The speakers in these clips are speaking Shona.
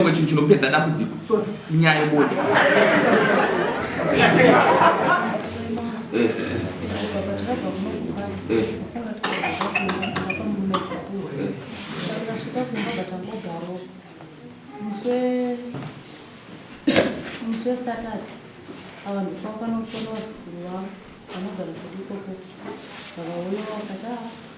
chimwe chinhu chinopedza dambudziko so inyaya yebonde musi wesatatu avanhu kwakanofonwa zukuru wavo vanogara kuti ikoko vakaona vakati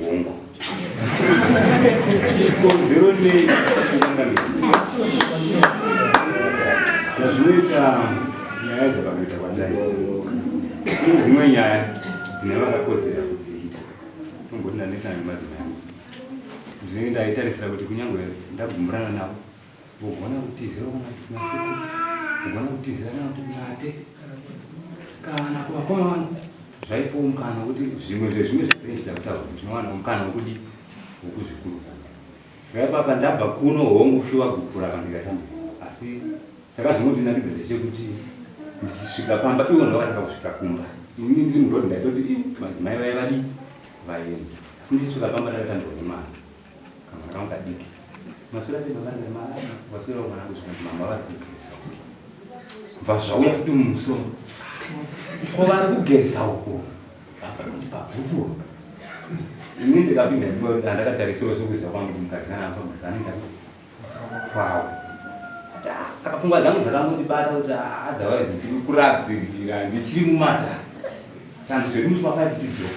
Hongu. Chikonzero nei zvazvinoita nyaya dzakakuita kwatari ine dzimwe nyaya dzine vakakodzera kudziita tomboti ndanetsana nemadzimai angu zvinenge ndaitarisira kuti kunyange ndagumburana navo Kugona kutizira kuna sekuru, kugona kutizira kana kuti kuna atete kana kuvakoma vangu zvaipowo mukana wekuti zvimwe zvezvimwe zvatinenge tichida kutaura tinowana mukana wekudii wekuzvikurukura. Zvaipapa ndabva kuno hongu shuwa gupura kana ndikatamba asi chakazongondinakidza ndechekuti ndichisvika pamba ivo ndovakatanga kusvika kumba ini ndiri murodi ndaitoti madzimai vaye vadii vaenda asi ndichisvika pamba ndakatambirwa nemwana kamwana wanga diki maswera sei baba ndema waswera mwana wangu zvinhu mama vari kugeza bva zvauya futi mumusoro ko vari kugeza uko baba kuti pabvuku ini ndikapinda ndakatarisira zvekuziva kwangu mukadzi kana apa muzanida kwawo saka pfungwa dzangu dzakangondibata kuti ah, otherwise ndiri kuradzirira ndichiri mumata tanzi zviri muchima five tidzo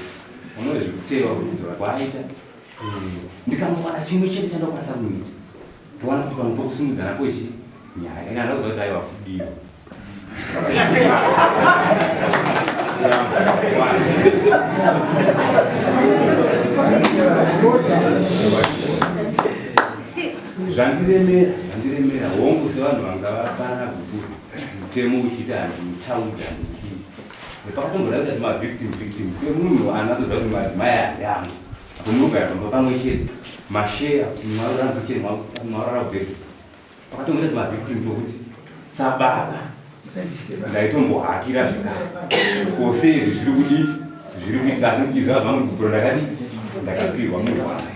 unoe zvekutewa kuti ndora kwaaita ndikamuwana chimwe chete chandakwanisa kuita towana kuti pamwe pokusimudza nako ichi nyaya kana ndauza kuti aiwa kudiwa zvandiremera zvandiremera hongu sevanhu vanga vafana kukuru mutemo uchiti handimutaudza Ndipakatombona kuti ma victim victim semunhu anatoziva kuti madzimai ayangu apo munogara pamba pamwe chete masheya mwarora mukitchen mwarora kubhedha pakatombona kuti ma victim tokuti sababa ndaitombohakira zvekare kose izvi zviri kudii zviri kuita asi ndichiziva zvangu ndikupura ndakadii ndakapirwa murwai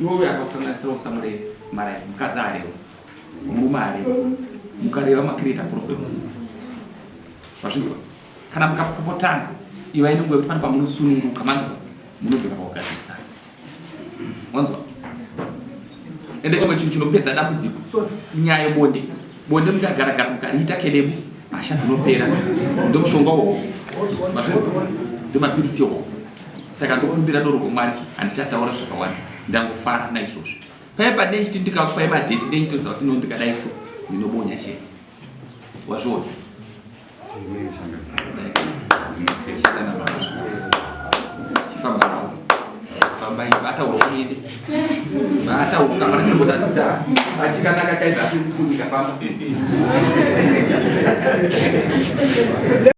Iwe uyo akakukanganisira usamureve maraini mukadzi areva murume areva mukareva makireta kuno kwemunzi vazvinzwa kana mukapopotana ivai nenguva yekuti pane pamunosununguka manzwa munodzoka pakugadzirisana wanzwa ende chimwe chinhu chinopedza dambudziko nyaya yebonde bonde mukagaragara mukariita kedemu hasha dzinopera ndomushonga wohofu mazvinzwa ndomapiritsi yohofu saka ndokumbira doro rwamwari handichataura zvakawanda ndangofara naizvozvo paye padei chiti ndikakupai madheti dei chitoziva kuti nondikadai so ndinobonya chete wazviona chifambanawo fambai vataura kuende vataura kamana ndinotadzisa achikanaka chaizvo asiri kusunika famba